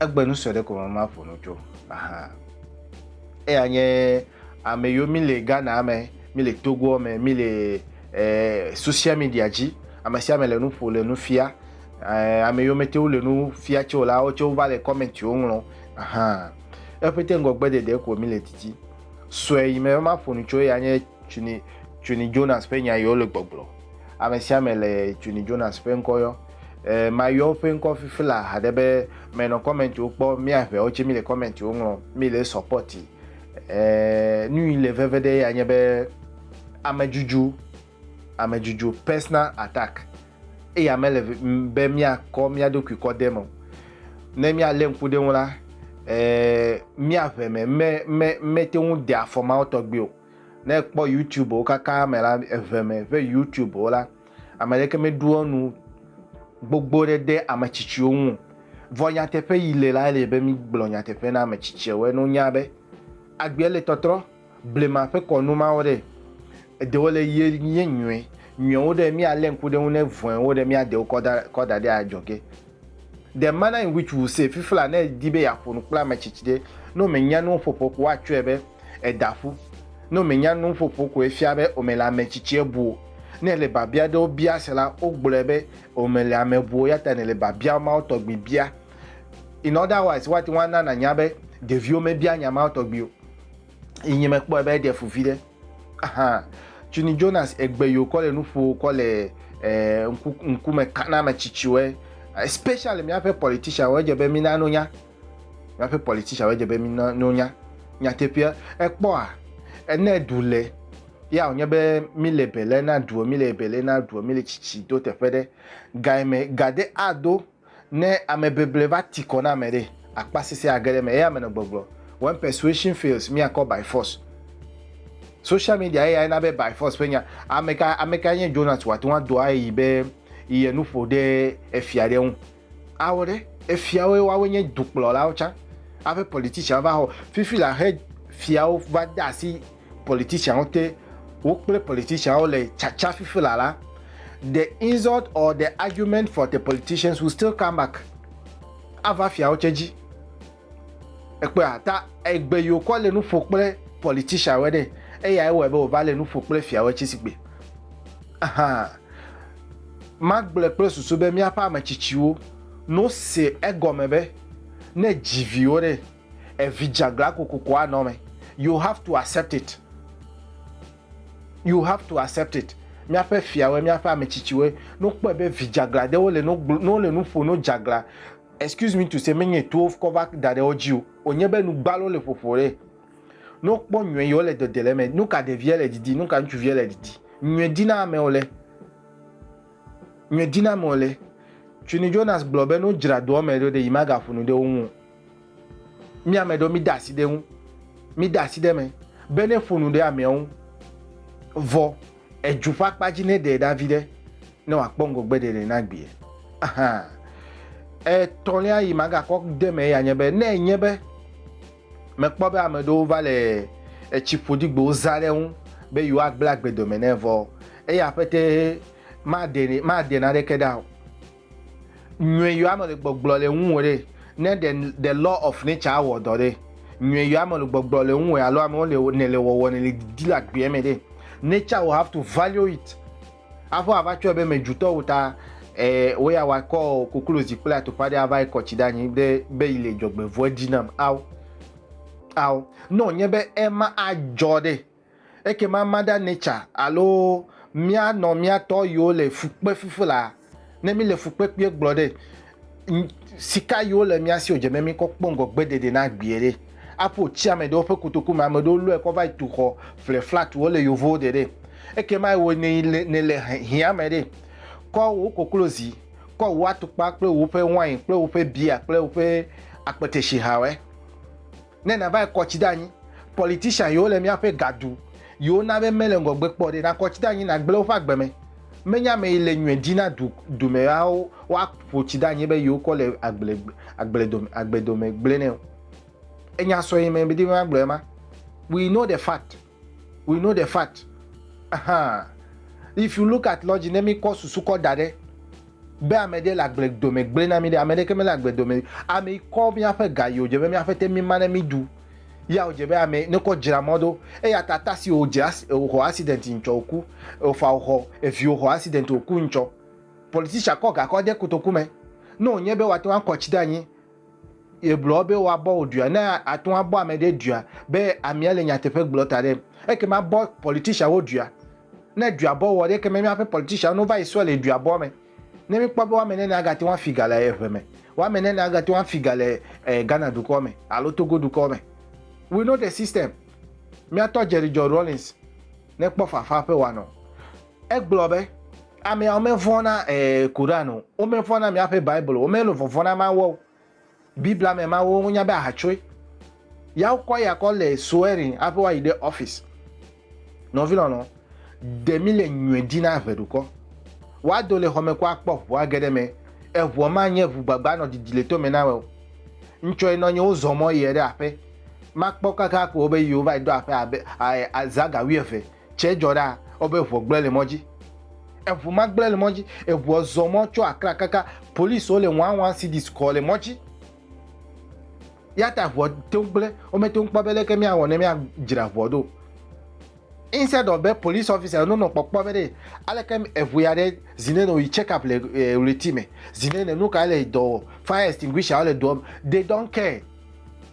Egbe nu sue ɖe ko me maƒo nu tso ahan. Eya nye ame yiwo mi le Ghana me, mi le Togoa me, mi le eh, social media dzi. Ame sia ame le nu ƒo le nu fia. Eh, ame yiwo mete wo le nu fia tso la, wo tse wova le comment wo ŋlɔ ahan. Eƒete ŋgɔgbe ɖeɖe ko mi le didi. Sue yi me maƒo nu tso eya nye Tuni Tuni Jonas ƒe nya yiwo le gbɔgblɔ. Ame sia ame le Tuni Jonas ƒe ŋkɔ yɔ. Eh, mayɔ woƒe ŋkɔ fifi la haɖe be menɔ kɔmɛntiwo kpɔ, mía ʋɛwo tse mi le kɔmɛntiwo ŋlɔ, mi le sɔpɔti. Eh, nui le veve ɖe ya nye be amedzudzu, amedzudzu, personal attack, eya mele be mía kɔ mía ɖokui kɔ de me o. Ne mía le ŋku ɖe ŋu la, eh, mía ʋɛ me me, me, me te ŋu de afɔ mawo tɔgbi o. Ne ekpɔ YouTube wo kaka me la, eʋɛ me ƒe YouTube wo la, Ame aɖeke meɖoa nu gbogbo ɖe ɖe ame tsitsiwo ŋu o, vɔ nyateƒe yi le lae le be mígblɔ nyateƒe na ame tsitsiawoe. Ne wonya be agbea le tɔtrɔ, blema ƒe kɔnu mawo ɖe, eɖewo le ye nye nyɔe, nyɔewo ɖe, míalé ŋku ɖe eŋu ne vɔ̃ewo ɖe, míade wo kɔ da, kɔ da ɖe adzɔge. The manner in which we say, Fifla ne edi be yeaƒo nu kple ame tsitsi ɖe, ne womenya nuwo ƒoƒo ko woatsɔe be eda ƒu. Ne womenya nuwo ƒoƒo ko efia be womele ame tsitsie bu o. Ne èle biabia aɖewo bia se la, wogblɔe be womele ame bu o eya ta nèle biabia mawo tɔgbi bia. In other wise, woate ŋu ana nànya be ɖeviwo mebia nya mawo tɔgbi o. Yi nyi mekpɔe be eɖe fu viɖe. Tsuni Jonas egbe yo kɔ le nuƒo kɔ le eh, ŋku, ŋkume kana ame tsitsiwoe especially míaƒe politician wo edze be mina no nya míaƒe politician wo edze be mina no nya nyateƒea ekpɔa ene du le ya wònye be míle bele na duo míle bele na duo míle tsitsi do teƒe ɖe gaime gade ado Ne ame beble va ti kɔ na ame ɖe, akpasese age ɖe eme. Eya menɔ gbɔgblɔ. When persuasion fails, míakɔ by force. Social media eyae na be by force ƒe nya. Ameka, amekae nye Jonas wòate ŋu ado aɣeyi be ye nu ƒo ɖe efia ɖe ŋu? Awɔ ɖe. Efiawoe woawoe nye dukplɔlawo tsã. Aƒe politicianwo va xɔ. Fifi la xe fiawo va de asi politicianwo te wo kple politicianwo le tsatsa fifi la la, the insult or the argument for the politicians will still come back. Ava fiawo tse dzi. Ekpea ta egbe yi wokɔ le nu ƒo kple politicianwo ɖe eya ewɔe be wòva le nu ƒo kple fiawo tse si gbe. Ahan. Magblɔe kple susu be míaƒe ametsitsiwo no se egɔme be ne dzi viwo ɖe Evi dzeaglã kokoko anɔ eme. You have to accept it. You have to accept it. Míaƒe fiawoe, míaƒe ame tsitsiwoe. Ne wokpɔe be vi dzeaglã ɖewo le nu gblɔ, ne wole nu ƒo no dzeaglã, excuse me to say, menye to wokɔ va da ɖe wo dzi o. Wònye be nu gbalo le ƒoƒo ɖe. Ne wokpɔ nyɔe yi wole dede le eme. Nu ka ɖevia le didi? Nu ka ŋutsuvia le didi? Nyɔe dina ame wòle. Nyɔe dina ame wòle. Quinny Jonas gblɔ be ne wodzra doa me ɖo ɖe, yi magaƒo nu ɖe wo ŋu o. Mi ame ɖewo mide asi ɖe eŋu, mide asi ɖe eme be ne ƒo nu ɖe amea ŋu vɔ edu ƒe akpa dzi ne ɖe ɖa vi ɖe ne wòakpɔ ŋgɔgbe ɖeɖe na gbea. Ahan. Etɔ̃lia yi magakɔ de me ya nye be ne enye be mekpɔ be ame ɖewo va le etsi ƒodigbewo zã ɖe ŋu be yewoagblẽ agbedome nɛ vɔ eya ƒete maɖe maɖe naneke ɖa o. Nyɔe yɔ ame le gbɔgblɔ le ŋu wɔ ɖe. Ne the the law of nature awɔ dɔ ɖe. Nyɔe yɔ ame le gbɔgblɔ le ŋu wɔ alo amewo le ne le wɔwɔ ne le didi le agbea me ɖe. Nature will have to value it. Aƒe ava tsɔe be me jutɔ wo ta eh, wo ya wa kɔ koklozi kple atukpa ɖe ava ekɔ tsi ɖe anyi ɖe be yi le dzɔgbevɔe ɖi nam ao ao. Ne wònye be ema adzɔ ɖe. Ekema Mother Nature alo mía nɔ mía tɔ yiwo le fukpe fifi la, ne míle fukpekpee gblɔ ɖe, sika yiwo le mía si o dze be míkɔ kpɔ ŋgɔ gbedede na gbeɛ ɖe. Aƒo tsi ame ɖewo ƒe kotoku me, ame ɖewo lɔe kɔ va yi tu xɔ ƒle flat wo le yovowo de ɖe. Ekema ewɔe ne nèle hiã me ɖe. Kɔ wò koklozi, kɔ wò atukpa kple woƒe wain kple woƒe bia kple woƒe akpeteshihawɛ. Ne navae kɔ tsi ɖe anyi, politician yiwo le míaƒe gaɖu yiwo na be mele ŋgɔgbe kpɔ ɖe, nakɔ tsi ɖe anyi nagblẽ woƒe agbe me. Menye ame yi le nyuie di na du dumeawo woaƒo tsi ɖe anyi be yiwo kɔ le agble agble dome agbe dome gblẽnɛ o. Enya sɔe mɛ medi be magblɔe ma. We know the fact. We know the fact. Ahaa. If you look at logic, ne mikɔ susu kɔ da ɖe be ame ɖe le agble dome gblẽ na mi ɖe, ame ɖeke mele agble dome. Ame yi kɔ míaƒe ga yi wòdze be míaƒe te mima ne miɖu. Ya wòdze be ame ne kɔ dzra mɔ ɖo. Eya ta ta si wòdze as wòxɔ accident yi ŋtsɔ wòku. Efa wòxɔ evi wòxɔ accident wòku ŋtsɔ. Politician kɔ ga kɔ de kotoku me. Ne wònye be woate ŋu akɔ tsi ɖe anyi Yegblɔ be woabɔ wò dua. Ne àte ŋu abɔ ame ɖe dua be amea le nyateƒe gblɔ ta ɖem, ekema bɔ politicianwo dua. Ne dua bɔ wò ɖe, ekema míaƒe politicianwo ne wova yi sɔ le dua bɔ me. Ne míkpɔ be woame nene agate ŋu afi ga le ʋe me, woame nene agate ŋu afi ga le eh, Ghana dukɔ me alo Togo dukɔ me. We know the system. Míatɔ Jerry John Rawlings nekpɔ fafa ƒe wòanɔ. Egblɔ be, Ameawo mevɔ̃ na ee Koran o, womevɔ̃ na míaƒe Bible o, womele vɔvɔ̃ na Mawua o. Biblia me Mawu wonya be ahatsoe. Ya wokɔ eya kɔ le swearing hafi woayi ɖe ɔfisi. Nɔvi lɔlɔ, ɖe míle nyɔe di na ʋeɖukɔ. Woado le xɔme kɔ akpɔ ʋu age ɖe eme. Eʋua manye ʋu gbagba anɔ didi le tome na wòe o. Ŋtsɔe nɔ nye wozɔ mɔ yiɛ ɖe aƒe. Makpɔ kaka ko be yewova yi ɖo aƒe abe ae azã ga wuieve Tsɛ dzɔ ɖa wobe eŋua gblẽ le mɔ dzi. Eŋu ma gblẽ le mɔ dzi. Eŋua zɔ mɔ tso Accra kaka. Policiwo le wɔa wɔa si ɖi sukɔ le mɔ dzi. Yata eŋua te ŋu gblẽ. Womete ŋu kpɔ be leke míawɔ ne míadzra eŋua ɖo. Instead of be police officer yiwo nonɔ kpɔkpɔ be ɖe aleke eŋu ya ɖe zi ne nɔ yi check up le ɣleti me, zi ne ne nukae le dɔ wɔ, fire extinguisher wo le doɔ me. They don't care.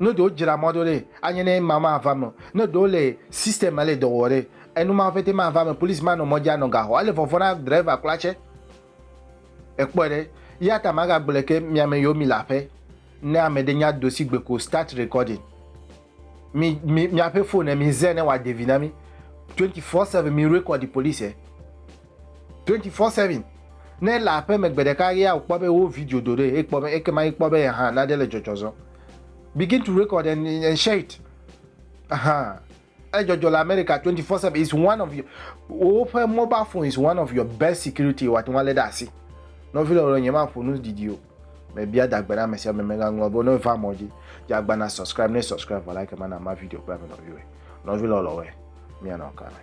Ne ɖewo dzra mɔ ɖo ɖe, anye ne ema mava me o. Ne ɖewo le system me le dɔ wɔ ɖe, enu mawo ƒete mava me. Police manɔ mɔ dzi anɔ ga xɔ. Ele vɔvɔ̃ na driver kura tsɛ. Èkpɔe ɖe. Eya ta magagblɔe ke mi ame yiwo mile aƒe, ne ame ɖe nya do si gbe ko, start recording. Mi, mi, miaƒe phone, mize ne wòade vi na mi. Twenty four seven, mi record police. 24/7 Ne ele aƒeme gbe ɖeka ɣia wòkpɔ be wo video do ɖe ekpɔ be ekema ekpɔ be yehã nane le dzɔdzɔ zɔ. Begin to record and, and share it. Ahaa. Edzɔdzɔ le America 24/7 is one of your woƒe mobile phone is one of your best security wòate ŋu alé ɖe asi. Nɔvi lɔlɔ̃ nyemaƒo nu didi o. mebia dagbe na ame sia ame megaŋlɔ be ne va mɔ dzi dze agba na subscribe ne subscribe vɔ like mana ma video kple ame nɔviwoe nɔvi lɔlɔwoe mianɔ ka me